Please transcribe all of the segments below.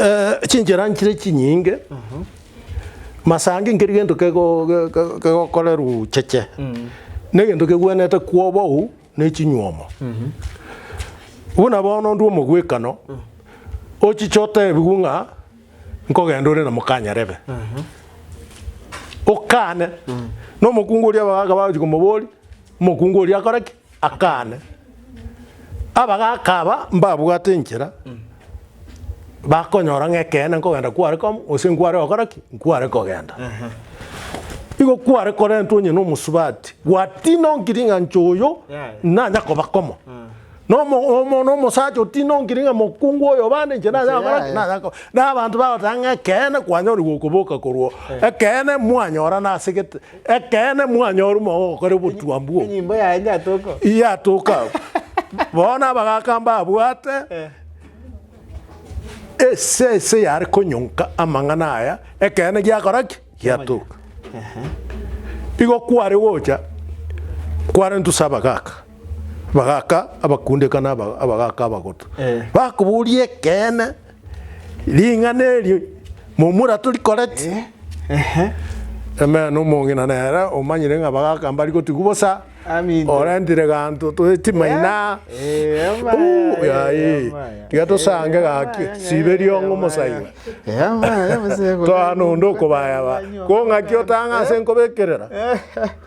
Eh, chinchera nchire chinyinge masangi nkeri gento kego- ge- ge- kegokorerwa cheche na egento kegwenerete kwobou na echinywomo buna bono ndwo omogwekano ochiche otebigwe ng'a nkogenda ore na mokanyarebe okane na omokungu oria abagaaka bagochia komoboria omokungu oria akore ki Akane, abagaaka aba mbabwate enchera, bakonyora ng'ekeene nkogenda kware komo, gose nkware gokora ki? Nkware kogenda. Igo kware korentwa onye nomosubati, gwatina onkiring'anche oyo Yeah. nanya koba komo. Nomo omo nomosacha otina onkiring'a mokungu oyo bande inche nanya gokora ki? Yeah. Nanya ko- na abanto bagoteba ng'a ekeene kwanyorigwa okoboka korwa o. Ekeene mwanyorana ase gete. Ekeene mwanyora omonge ogokora obotuomba obwo. Enyimbo yaye nyatoka. Yatoka abwo. Bono abagaka mbabwate ese ese yare konyonka amang'ana aya, ekeene giakora ki? Giatoka. Igo kware gocha, kware ntuse abagaka, abagaka abakunde kana abagaka abagoto. Bakoboria ekeene. Ring'ana eri momura torikoreti. Ehe. Amen omong'ina nere omanyire ng'a bagaka mbari gotigwa bosa. Amina. Orentire ganto twe timaina. Eh, ama Uu, ya, ya, yayi. ya, ama ya. Tiga tosange Eh, gaki. ama ya, Sibe ya, riongo ama mosaiba. ya. Eh, ama ya, mosaiba. Toa nonde okobaya ba. Kong'aki otang'a ase nkobekerera.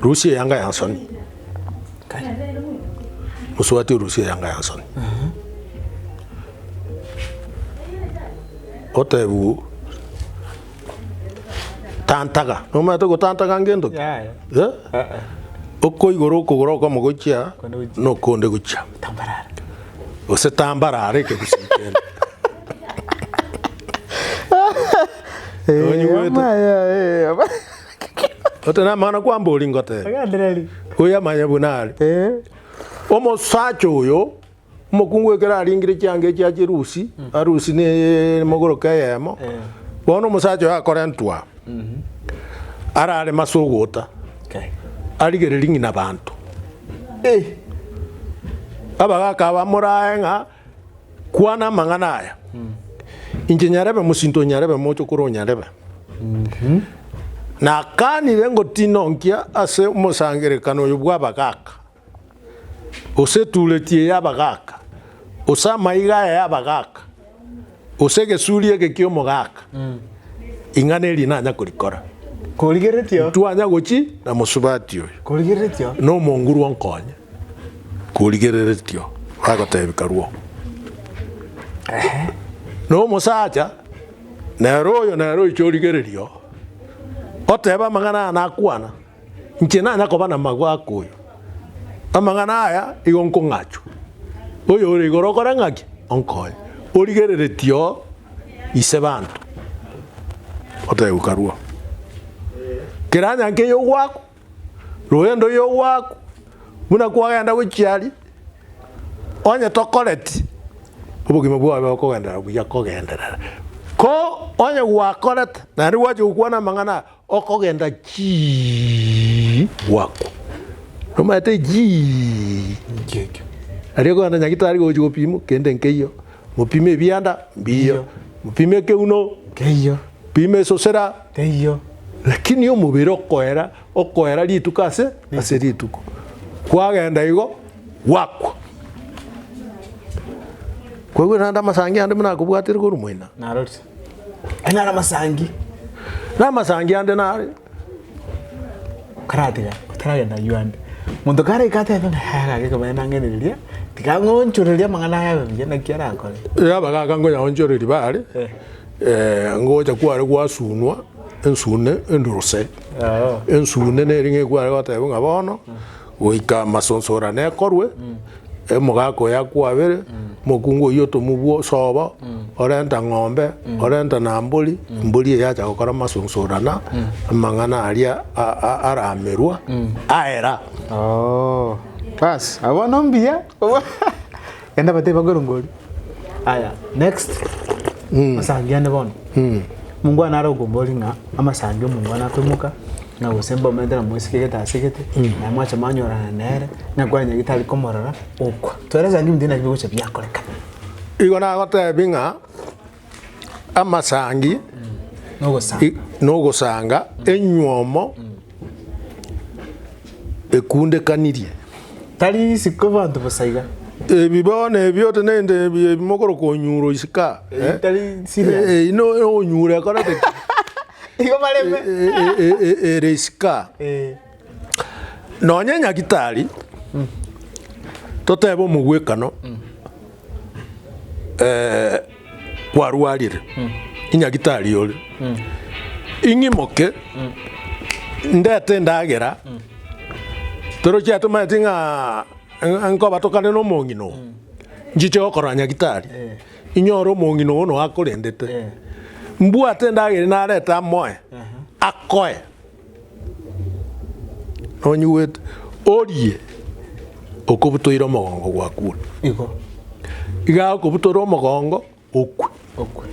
Rusia eyanga ya nsoni. Musubati orusia eyanga ya nsoni. Otebu tantaga, nomanyete gotantaga ngento ki? Yaya. Eh? Okoigora okogoro okomo gochia Konde gochia. nokonde gochia. Tambarara. Gose tambarara ekegusii kende. Onye goeta. Ote namang'ana kwambori ngotebi. Agendereri. Oyo amanye buna are. Eh. Omosacha oyo omokungu ekero aringire chianga echi ache rusi, arusi ne mogoroka eyemo. Eh. Bono omosacha oyo akorentwa. Mhm. Arare mase ogota. Okay. Arigereri ng'ina banto. Eh. Abagaka bamorae ng'a Kwana amang'ana aya, inche nyarebe mosinto onyarebe moche kore onyarebe. Nakanire ngotina onkia ase omosangerekano oyo bw'abagaaka, gose etuureti ey'abagaaka, gose amaiga aya y'abagaaka, Gose egesuuri eke ki'omogaka, ing'ana eri nanya korikora? Korigeretio. Ntwanya gochi na mosubati oyo. Korigeretio. Na omonguru onkonye. Korigeretio. Bagotebi karwo. Na omosacha nere oyo nere oiche origererio, oteba amang'ana aya nakwana. Inche nanya koba namagwe akoyo. Amang'ana aya igo nkong'achwa. Oyore igoro okore ng'aki? Onkonye. Origereretie oo ise banto. Oteguka rwo. Keranya nke yogwako. Rogendo yogwako. Buna kwagenda gochia aria. Onye tokoreti obogima bwao bobe bokogenderera buya kogenderera. Ko onye gwakorete naende gwacha gokwana amang'ana aya. Okogenda chii gwaku nomaete chii aria okogenda nyagitari gochi gopima kende nkeiyo mopime ebianda mbiyo mopime ekeuno keiyo pima esosera keiyo lakini omobere okoera okoera rituko ase ase rituko kwagenda igo gwakwa. Kwaigu naende amasangi ande buna akobwatire korwa moina. Aye nare amasangi. Namasangi ande nare. Karatiga otaragenda aywo ande. Monto karaika atebe ng'a "Haya, gaki ekebaya nang'enereria, tiga ng'onchorerie amang'ana aya abe buya, naki arakore. Yaba gaka nkonyaonchoreria bare, Eh. eh, ngocha kware gwasunwa ensune enduruse. Oo. Ensune neri ng'ekware goteba ng'a bono, Goika amasonsorano ekorwe, emogaka oye akwabere, omokungu oyio otomobua osobo, orenta ng'ombe, orenta na mbori, mbori eye acha gokora amasonsorana, amang'ana aria a- a- aramerwa, aera. Oh, bas, abwo no mbuya. Genda batebie bakorongori. Aya, next. Masangi ane bono. Mungwana nare okombori ng'a amasangi omongwana akoimoka na gose mbaomete na mwesike egete ase egete na mwacha mwanyorana nere na kwanyagi tari komorora okwa. Twere esangi ime tinaki bigocha biakorekana. Igo nagotebie ng'a amasangi Nogosanga. i- nogosanga enywomo ekundekanirie. Tari isiko abanto bosa iga. Ebi bono ebi otenerete ebi ebi mokoro konyuro isika. eh? Tari serious. Eh, eh, ino onyure ekorete ki? Igo bareme. Eh, eh, eh, eh, ere isika. Eh. Nonye nyagitari, totebe omogwekano eh, kwarwarire, inyagitari ore, ing'imoke ndete endagera, toro chiatomanyeti ng'a ng'a nkobatokane na omong'ina oo, nchiche gokorora nyagitari, inyore omong'ina oo noakorendete, mbwate endagera ere narete amoe, akoe. Nonyigwete, orie okobutoire omogongo gwakure. Igo. Iga agokobutora omogongo okwe. Okwe.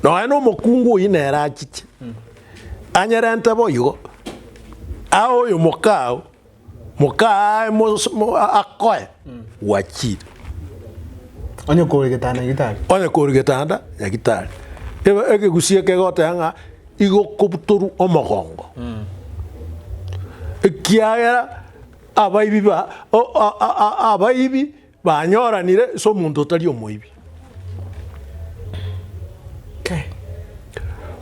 Nonya na omokungu oyio nere achiche, anyerente boigo, aye oyo mokao Mokaye mos- mo- a- akoe gwachire Onye kore getanda gitari. onye kore getanda nyagitari Ebe- ekegusii eke egoteba ng'a igokobutorwa omogongo ekiagera abaibi ba o- a- a- a- abaibi Banyoranire ase omonto otari omoibi.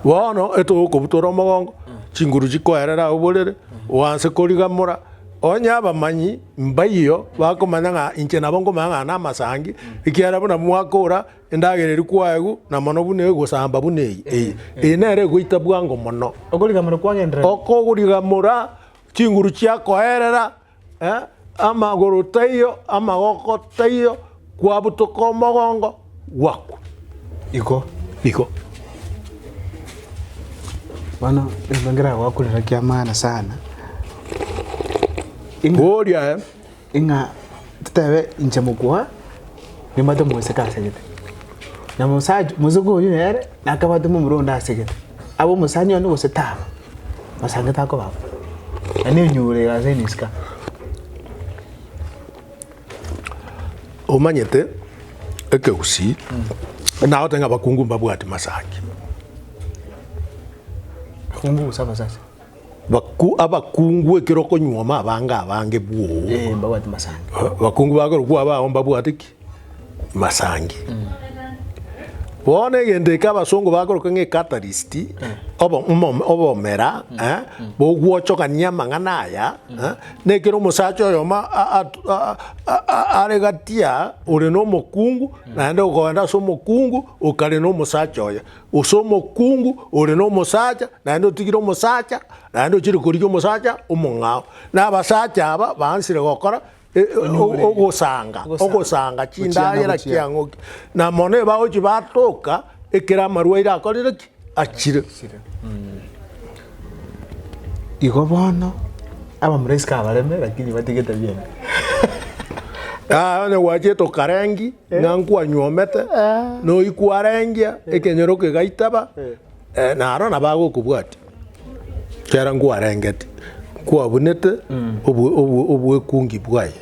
Bono eto okobutora omogongo, chinguru chikoerera aye oborere, oanse korigamora. Onye abamanyi mbaiyo bakomanya ng'a inche nabo nkomanya ng'a namasangi, ekiagera buna mwakora endagera eria kwaegwa na mono buna egosamba buna eye eye, eye nere egoita bwango mono. Okorigamora kwagenderera. Okorigamora, chinguru chiakoerera, Amagoro taiyo, amagoko taiyo, kwabutoka omogongo, gwakwa. Igo, igo. Bono rende ngera goakorera kia maana sana. Oria eh. Ing'a totebe inche mokwa, nimate moiseke asegete. Na omosacha omoseke oyio nere nakabwate momura onde asegete, abe omosani one gose tabe, osangete akoba bo. Na nenyuro ere ase egesika. omanyete ekegusii nagote ng'a abakungu mbabwati masaaki. Akungu gose abasacha. Baku, abakungu ekero okonyuoma abange abange bwoo. Eh, mbabwate masangi. Abakungu bakorokwa abao mbabwate ki? Masangi. Bono egento eke abasongo bakoroka ng'a ecatalyst, obo- omom- obomera eh, bogwochokania amang'ana aya eh, na ekero omosacha oyomo a- at- a- a- a- are gati aa ore na omokungu, naende okoenda ase omokungu okare na omosacha oye. gose omokungu ore nomosacha naende otigire omosacha naende ochire korigia omosacha omong'ao. Na abasacha aba baansire gokora e- e- Onyure. ogosanga Ogosanga. ogosanga Gochia na chindagera gochia. chia ng'oki na mono ebagochi batoka ekero amarwaire akorire ki achire. Igo bono abamuraisiko abareme lakini batigete biaino. Onye gwachete okarengi ng'a nkwanyuomete, na oyio kwarengia ekenyoro kegaitaba, naro nabo agokobwatia ekiagera nkwarengeti, nkwabunete obwekungi bwaye.